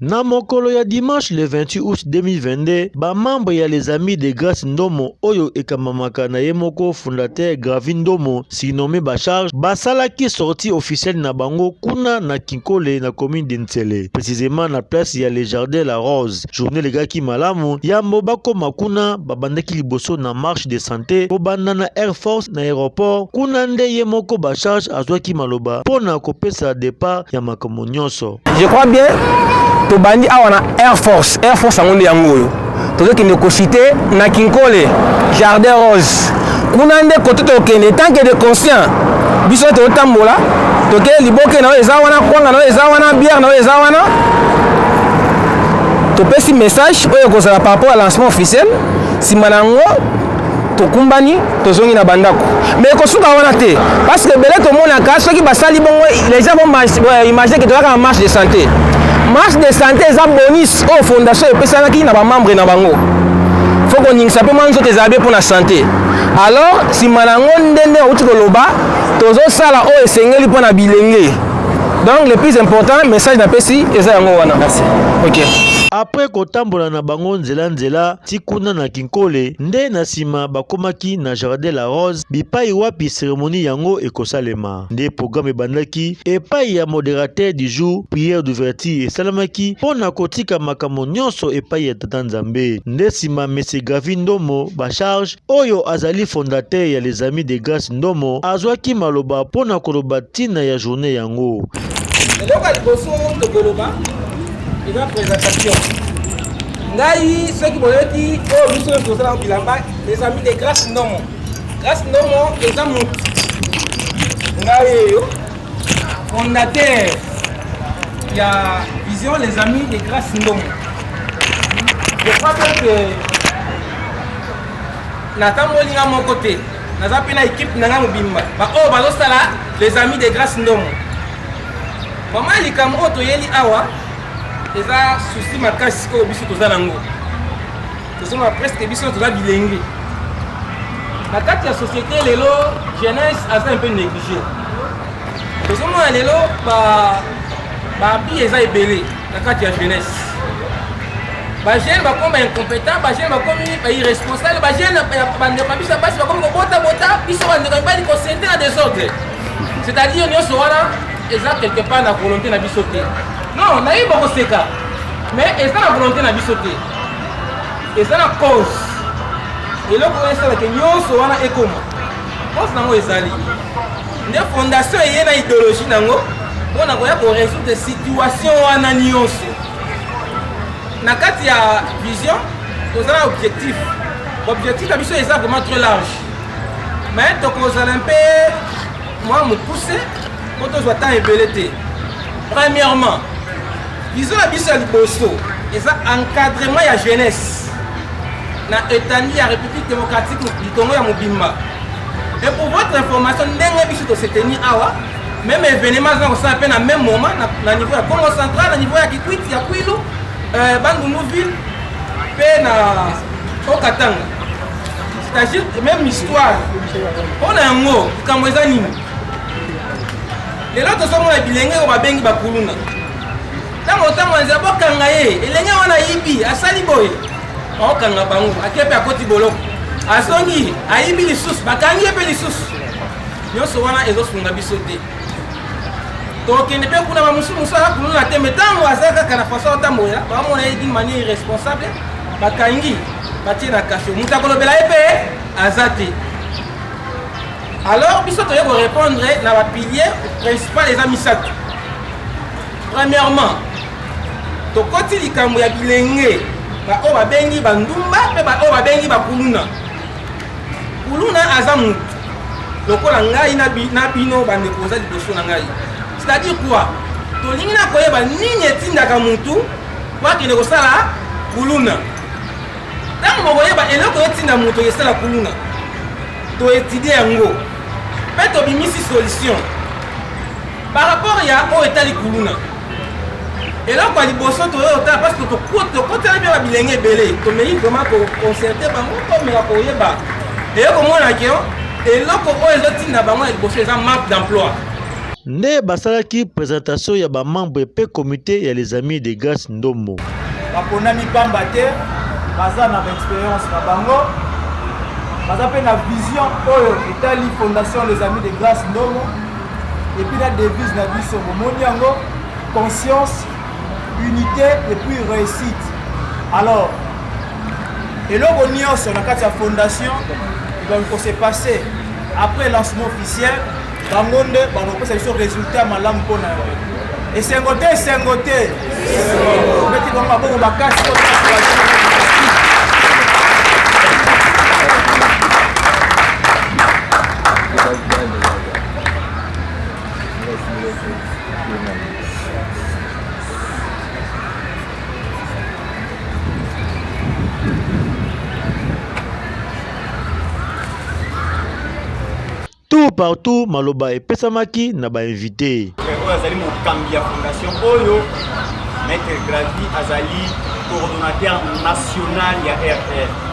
Na mokolo ya dimanche le 28 août 2022, ba membres ya les amis de Grace Ndomo oyo ekambamaka na ye moko fondateur Gravi Ndomo surnommé ba charge basalaki sortie officielle na bango kuna na Kinkole na commune de Nsele précisément na place ya le jardin la Rose. Journée legaki malamu yambo bakoma kuna babandaki liboso na marche de santé kobanda na Air Force na aéroport kuna nde ye moko ba charge azwaki maloba mpo na kopesa départ ya makambo makambo nyonso. Je crois bien tobandi awa na Air Force. Air Force yango nde yango oyo tozokende kosite na Kinkole Jardin Rose, kuna nde kote tokende tant que de conscient biso totambola toke liboke na oyo eza wana kwanga na oyo eza wana bière na oyo eza wana topesi message oyo ekozala par rapport ya lancement officiel nsima na yango tokumbani tozongi na bandako mais ekosuka wana te parce que ebele tomonaka soki basali bongo les gens vont euh, imaginer que tozalaka na marche de santé marche de santé eza bonus oyo fondation epesanaki na bamembre na bango fo koningisa mpe mwa nzoto ezala bie mpo na sante alors nsima na yango nde nde auti koloba tozosala oyo esengeli mpo na bilenge donc le plus important message napesi eza yango wana Merci. ok après kotambola na bango nzela nzela ti kuna na Kinkole nde na nsima bakomaki na Jardin la Rose bipai wapi seremoni yango ekosalema. Nde programme ebandaki epai ya moderateur du jour, prière d'ouverture esalamaki mpo na kotika makambo nyonso epai ya Tata Nzambe. Nde nsima Monsieur Gavi Ndomo Bacharge oyo azali fondateur ya Les Amis de Grace Ndomo azwaki maloba mpo na koloba ntina ya journée yango. eloko ya liboso tokoloba eza présentation ngai soki boyoki oyo oh, biso nyonso tozala bilamba ezali de grace ndomo grace ndomo eza motu ngai eyo fondateur ya vision les amis de grace ndomo je crois bien que natamboli nga moko te naza mpe na ekipe na nga mobimba baoyo oh, bazosala les amis de grace ndomo mama likambo oyo toyeli awa eza souci makasi oyo biso toza nango tozomona presque biso toza bilenge na kati ya société lelo jeunesse aza un peu négligé tozomona lelo babi eza ebele na kati ya jeunesse bajeune bakoma baincompétent bajeune bakomi bairresponsable bajeune bandeko ya biso ya basi bakomi kobota bota biso bandeko ya mibali kosente na desordre c'est-à-dire nyonso wana eza quelque part na volonté na biso te non nayebi bakoseka mais eza na volonté na biso te eza na cause eloko oyo esalaka nyonso wana ekoma cause nango ezali nde fondation eye na idéologie nango mpo na koya koresoudre situation wana nyonso na kati ya vision toza na objectif objectif na biso eza vraiment très large me tokozala mpe mwa mokuse mpo tozwa ntango ebele te premièrement bizo na biso ya liboso eza encadrement ya jeunesse na etandi ya république démocratique du congo ya mobimba et pour votre information ndenge biso toseteni awa même événement azana kosala mpe na même moment na, na niveau ya congo central na niveau ya kikwiti ya kwilu euh, bandundu ville mpe na okatanga c'est-à-dire même histoire mpo na yango likambo eza nini lelo tozomona bilenge oyo babengi bakuluna ntango ntango anzela bokanga ye elenge wana ayibi asali boye okanga bango ake mpe akoti boloko azongi ayibi lisusu bakangi ye mpe lisusu nyonso wana ezosunga biso te tokende mpe kuna bamosusu mosusu aza kuluna te me ntango aza kaka na façon atambolela bamona ye d'une manière irresponsable bakangi batie na kasho moto akolobela ye mpe aza te alors biso toye korépondre na bapilier principal eza misato premièrement tokoti likambo ya bilenge baoyo babengi bandumba mpe baoyo babengi bakuluna kuluna aza mutu lokola ngai na bino bandeko boza liboso na ngai c'est-à-dire quoi tolingi na koyeba nini etindaka mutu po akende kosala kuluna ntango bokoyeba eloko etinda moto esala kuluna toetidie yango mpe tobimisi solution par rapport ya oyo etali kuluna eloko ya liboso toyei otala parce que tokotela bia babilenge ebele tomei vraiment koconcerte bango tomeka koyeba eye komona ke eloko oyo ezotinda bango ya liboso eza manque d'emploi nde basalaki presentation ya bamembre mpe komite ya les amis de grace ndombo baponami mpamba te baza na baexperience na bango baza mpe na vision oyo etali fondation les amis de grace ndombo Et puis la devise na biso bomoni yango conscience, unité et puis réussite. Alors eloko nyonso na kati ya fondation ebaki kose passe après lancement officiel bango nde bakopesa biso résultat malamu mpo na yango esengo te esengo te obeti bango maboko makasi Thank you. tout partout maloba epesamaki na bainvite oyo azali mokambi ya fondation oyo maître gravi azali coordonnateur national ya rr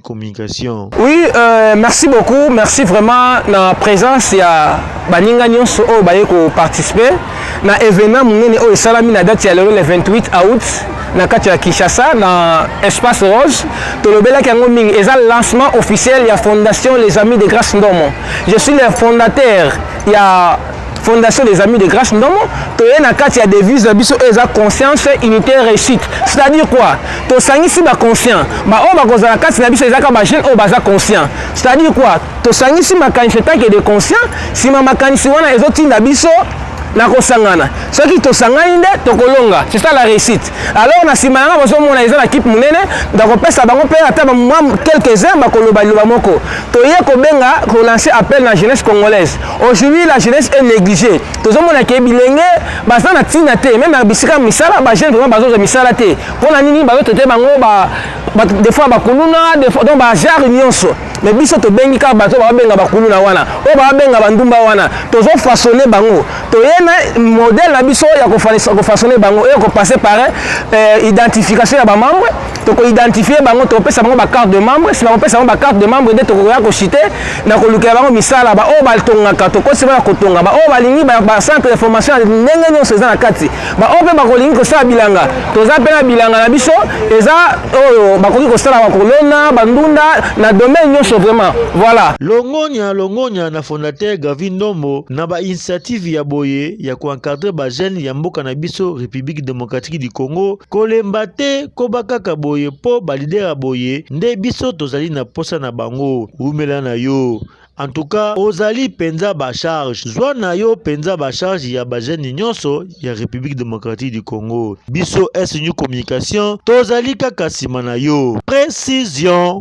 communication. Oui, euh, merci beaucoup. Merci vraiment na présence ya baninga nyonso oyo baye ko participer na événement munene oyo esalami na date ya lelo le 28 août na kati ya Kinshasa na espace rose tolobelaki yango mingi eza lancement officiel ya fondation les amis de grâce ndomo je suis le fondateur ya Fondation des Amis de Grâce Ndomo, toye na kati ya devise na biso eza conscience unité réussite. C'est-à-dire quoi? Tosangisi ba conscients, ba oyo bakozala kati na biso ezaka ba jeunes oyo baza conscients. C'est-à-dire quoi? Tosangisi makanisi etake de conscients, sima makanisi wana ezotinda biso na kosangana soki tosangani nde tokolonga c'est ça la réussite alors na nsima yanga bozomona eza na kipe monene ndakopesa bango mpe ata quelques heures bakoloba liloba moko toye kobenga kolancer appel na jeunesse congolaise Aujourd'hui la jeunesse est négligée. Tozomona ke bilenge baza na tina te, même na bisika misala ba jeunes vraiment bazoza misala te. Pona nini bazo tote bango ba, ba des fois bakuluna, des fois donc ba genre nyonso. Mais biso tobengi kaka bato babenga bakuluna wana, oyo babenga bandumba wana, tozo façonner bango. Toyena modèle na biso ya ko façonner bango et ko passer par euh, identification ya ba membres toko identifier bango tokopesa bango bacarte de membre nsima kopesa bango bacarte de membre nde tokoya koshite na kolukela bango misala baoyo batongaka tokosi bana kotonga baoyo balingi bacentre de formation ya ndenge nyonso eza na kati baoyo mpe bakolingi kosala bilanga toza mpe na bilanga na biso eza oyo bakoki kosala bakolona bandunda na domaine nyonso vraiment voilà longonya longonya na fondateur gavi ndombo na bainitiative ya boye ya koencadre bajeune ya mboka na biso république démocratique du congo Kolemba te, koba kaka boye mpo balidera boye nde biso tozali na mposa na bango. Wumela na yo. En tout cas, ozali penza ba charge. Zwa na yo penza ba charge ya ba jeunes nyonso ya République démocratique du Congo. Biso SNU Communication tozali kaka sima na yo. Précision.